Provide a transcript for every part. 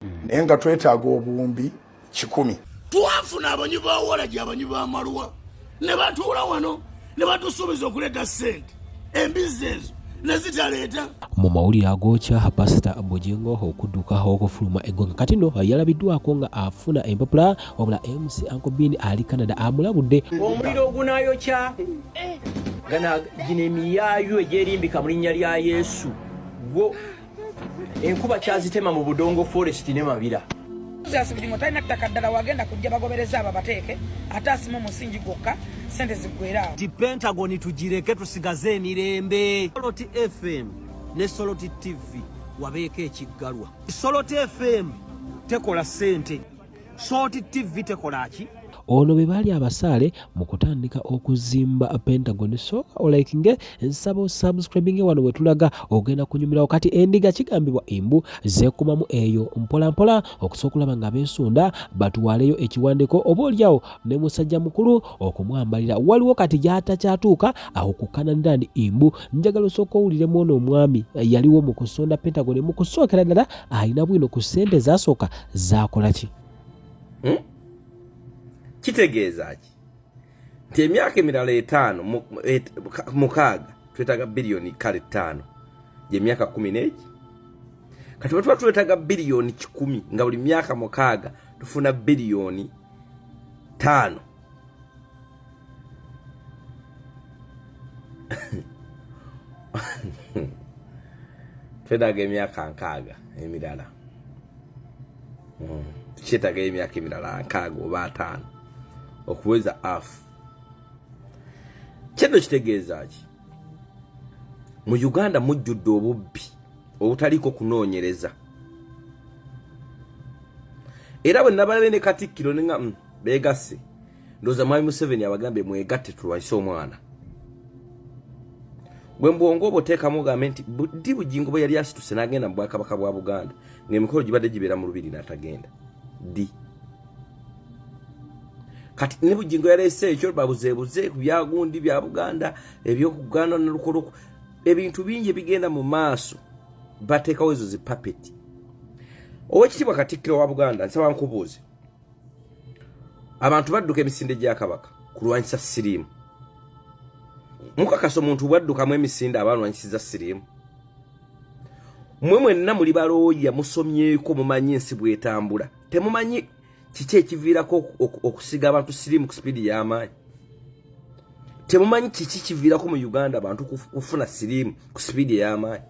hmm. naye nga twetaaga obuwumbi kikumi twafuna abanyi ba walagi abanyi ba malwa ne batuula wano ne batusuubiza okuleeta ssente embizzi ezo nezitaleeta mu mawulire agokya pasita bugingo okudduka okufuluma eggwanga kati no yalabiddwako nga afuna empapula wabula mc ankobin ali canada amulabudde omuliro ogunayokya gana gino emiyaayo egyerimbika mu linnya lya yesu gwo enkuba kyazitema mu budongo forest ne mabira Julius Bugingo talina ttaka ddala wagenda kujja bagobereza abo abateeke ate asimu omusingi gwokka sente ziggwera awo ti pentagon tugireke tusigaze emirembe soloti fm ne soloti tv wabeeko ekiggalwa soloti fm tekola sente sooti ttivi tekola ki ono be baali abasaale mu kutandika okuzimba pentagon so olakinge nsaba osubscribinge wano we tulaga ogenda kunyumirawo kati endiga kigambibwa embu zekumamu eyo mpolampola okusobola okulaba nga beesunda batwaleyo ekiwandiko oba olyawo ne musajja mukulu okumwambalira waliwo kati gyatakyatuuka awo ku kananira ndi embu njagala osooka owuliremu ono omwami yaliwo mu kusonda pentagon mu kusookera ddala alina bwino ku ssente zasooka zakola ki hmm? kitegeeza ki nti emyaka emirala etaano mukaaga twetaaga biliyoni kale ttaano gyemyaka kumi n'egi kati bwetuba twetaaga biliyoni kikumi nga buli myaka mukaaga tufuna biliyoni ttaano twetaaga emyaka nkaaga emirala hmm. tukyetaaga emyaka emirala nkaaga oba ataano okuweza afu kino kitegeeza ki mu uganda mujjudde obubbi obutaliiko kunoonyereza era bwe nabalabye ne katikkiro ne nga mm, begasse ndoza mwami museveni abagambye mwegatte tulwanyise omwana gwe mbwongo obo teekamu ogambe nti ddi bugingo bwe yali asituse n'agenda mu bwakabaka bwa buganda ng'emikolo gibadde gibeera mu lubiri n'atagenda ddi kati ne bugingo yaleese ekyo babuzeebuze ku byagundi bya buganda ebyokuganda nalukoloku ebintu bingi ebigenda mu maaso bateekawo ezo zipapeti owekitiibwa katikkiro wa buganda nsaba nkubuuze abantu badduka emisinde gya kabaka kulwanyisa siriimu mukakasa omuntu bwaddukamu emisinde aba alwanyisiza siriimu mwe mwenna muli balooya musomyeko mumanyi ensi bwetambula temumanyi kiki ekiviirako okusiga abantu siriimu ku sipiidi y'amaanyi temumanyi kiki kiviirako mu uganda abantu kufuna siriimu ku sipiidi ey'amaanyi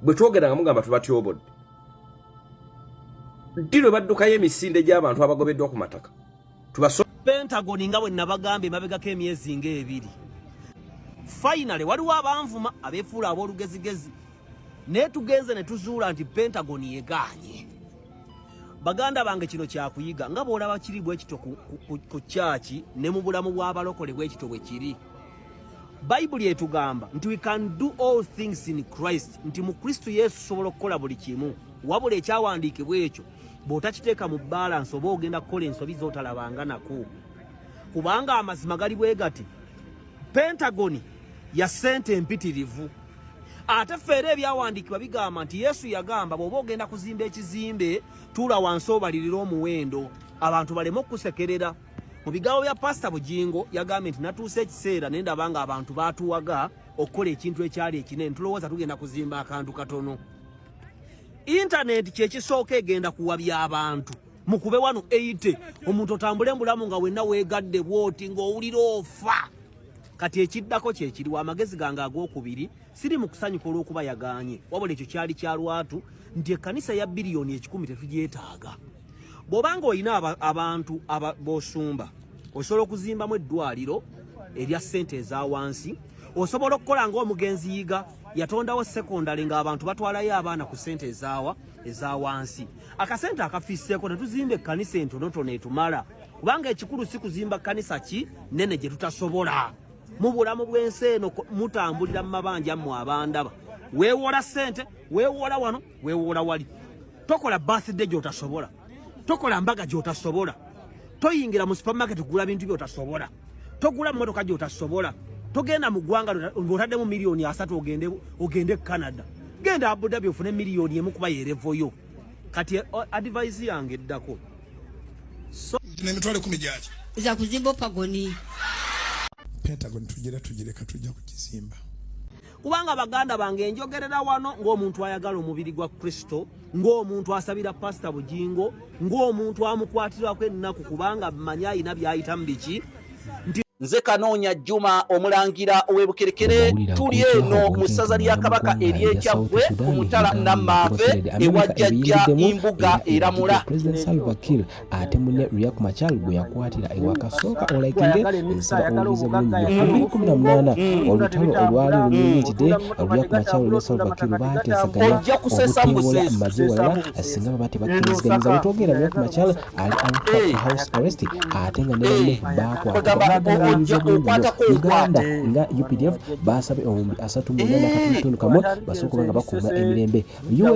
bwe twogera nga mugamba tubatyobodde ddi lwe baddukayo emisinde gy'abantu abagobeddwa ku mataka pentagon nga bwe nabagamba emabegako emyezi ng'ebiri finally waliwo abanvuma abefuula ab'olugezigezi naye tugenze ne tuzuula nti pentagon yegaanye baganda bange kino kyakuyiga nga bw'olaba kiri bwekito ku kyaki ne mu bulamu bw'abalokole bwekito bwe kiri bayibuli etugamba nti we can do all things in christ nti mu kristo yesu sobola okukola buli kimu wabula ekyawandiikibwa ekyo bw'otakiteeka mu balansi oba ogenda kukola ensobi z'otalabanga nako kubanga amazima gali bwe gati pentagoni ya ssente empitirivu ate feera ebyawandiikibwa bigamba nti yesu yagamba bw'oba ogenda kuzimba ekizimbe tuula wansi obalirira omuwendo abantu baleme okusekerera mu bigambo bya pasita bugingo yagambye nti natuusa ekiseera naye ndaba nga abantu baatuwaga okukola ekintu ekyali ekinene tulowooza tugenda kuzimba akantu katono intaneti kyekisooka egenda kuwabya abantu mukube wano eite omuntu otambule mbulamu nga wenna weegadde bwoti ng'owulira ofa kati ekiddako kyekiriwo amagezi gange ag'okubiri siri mu kusanyuka olw'okuba yagaanye wabula ekyo kyali kya lwatu nti ekkanisa ya biliyoni ekikumi tetugyetaaga bwobanga olina abantu bosumba osobola okuzimbamu eddwaliro erya ssente eza wansi osobola okukola ngaomugenzi yiga yatondawo sekondale ngaabantu batwalayo abaana ku ssente ezaawa eza wansi akasente akafisseeko netuzimba ekkanisa entonotono etumala kubanga ekikulu si kuzimba kkanisa ki nene gye tutasobola mu bulamu bw'ensi eno mutambulira mu mabanja mmwe abandaba weewola ssente weewola wano wewola wali tokola birthday gyotasobola tokola mbaga gyotasobola toyingira mu supermarket kugula bintu byotasobola togula motoka gyotasobola togenda mu gwanga ngotaddemu miliyoni asatu ogende ogende canada genda abudabi ofune miliyoni emu kuba yerevoyo kati eh, advise yange eddako so, nemitwale kumi gyaki za kuzimba opagoni pentagon tujira tujireka tujja kukizimba kubanga baganda bange njogerera wano ng'omuntu ayagala omubiri gwa kristo ng'omuntu asabira pasita bugingo ng'omuntu amukwatirako ennaku kubanga manyi ayina byayitamu biki nti nze kanoonya juma omulangira ow'ebukerekere tuli eno mu ssaza lya kabaka ery'ekyaggwe ku mutala nammaave ewa jjajja imbuga eramula ate mune Riak Machar gwe yakwatira ewaka sooka olayikinge nsaba owulirize bulungi ebbiri kumi na munaana olutalo olwali lumiritide Riak Machar ne Salva Kiir baateesaganya okuteewola maze walala singa baba tebakkiriziganyizza wetwogera Riak Machar ali aluka house arrest ate nga ne banne baakwatawulirize bulungi Uganda nga UPDF baasabe omubi asatu mu nana katundu kamu basooka nga bakuuma emirembe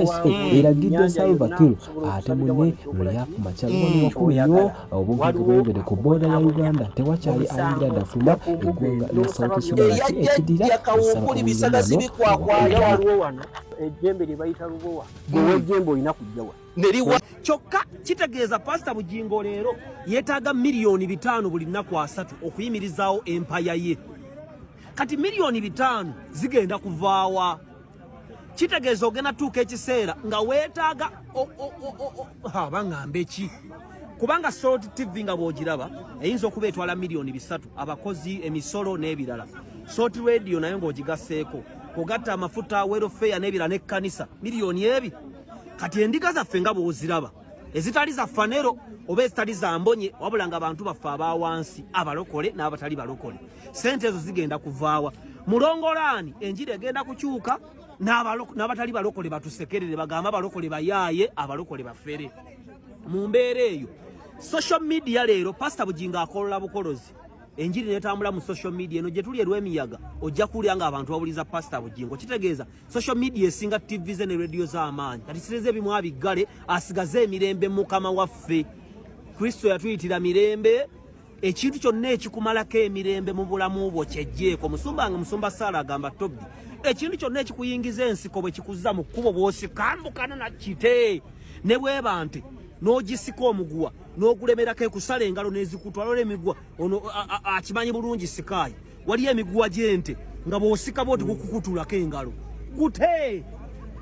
usa eragidde salva kiir ate mune lweya ku makya lubano wakulu nnyo obunkenke bweyongedde ku booda ya uganda tewakyali ayingira dafuma eggwanga lya south sudan ki ekidira ejjembe lye bayita lubowa gwewa ejjembe olina kujjawa neriwa kyokka kitegeeza pasita bugingo leero yeetaaga miliyoni bitaano buli nnaku asatu okuyimirizaawo empaya ye kati miliyoni bitaano zigenda kuvaawa kitegeeza ogenda tuuka ekiseera nga weetaaga baŋambe ki kubanga salt tv nga bwogiraba eyinza okuba etwala miliyoni bisatu abakozi emisolo n'ebirala salt radio nayo ng'ogigaseeko kugatta amafuta welfare n'ebirala n'ekkanisa miliyoni ebi kati endiga zaffe nga bwoziraba ezitali za fanero oba ezitali za mbonye wabula nga bantu baffe abawansi abalokole n'abatali balokole sente ezo zigenda kuvaawa mulongolaani enjiri egenda kukyuka n'abatali balokole batusekerere bagamba abalokole bayaaye abalokole bafere mu mbeera eyo social media leero pasita bugingo akolola bukolozi enjiri netambula mu social media eno gyetuli erwemiyaga ojja kuwulira nga abantu bawuliza pasita bugingo kitegeeza social media esinga tv ze ne radio z'amaanyi kati sireze ebimu abiggale asigaze emirembe mukama waffe kristo yatuyitira mirembe ekintu kyonna ekikumalako emirembe mu bulamu bwo kyejjeeko musumba nga musumba saala agamba tobi ekintu kyonna ekikuyingiza ensiko bwe kikuzza mu kkubo bwosikambukana na kite ne bweba nti n'ogisika omuguwa n'ogulemerako ekusala engalo n'ezikutwala olwo emiguwa ono akimanyi bulungi sikaayi waliyo emiguwa gy'ente nga bw'osika bwoti gukukutulako engalo gute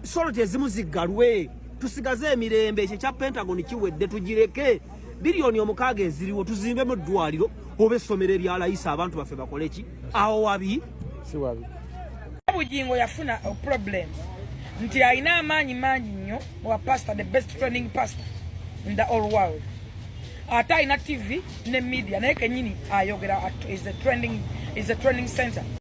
soloti ezimu ziggalwe tusigaze emirembe ekyo ekya pentagon kiwedde tugireke biliyoni omukaaga eziriwo tuzimbemu eddwaliro oba essomero eryalayisa abantu baffe bakole ki awo wabi siwabi bugingo yafuna problem nti alina amaanyi mangi nnyo wa pastor the best training pastor in the all world ate alina tv ne media naye kenyini ayogera is a trending, is a trending center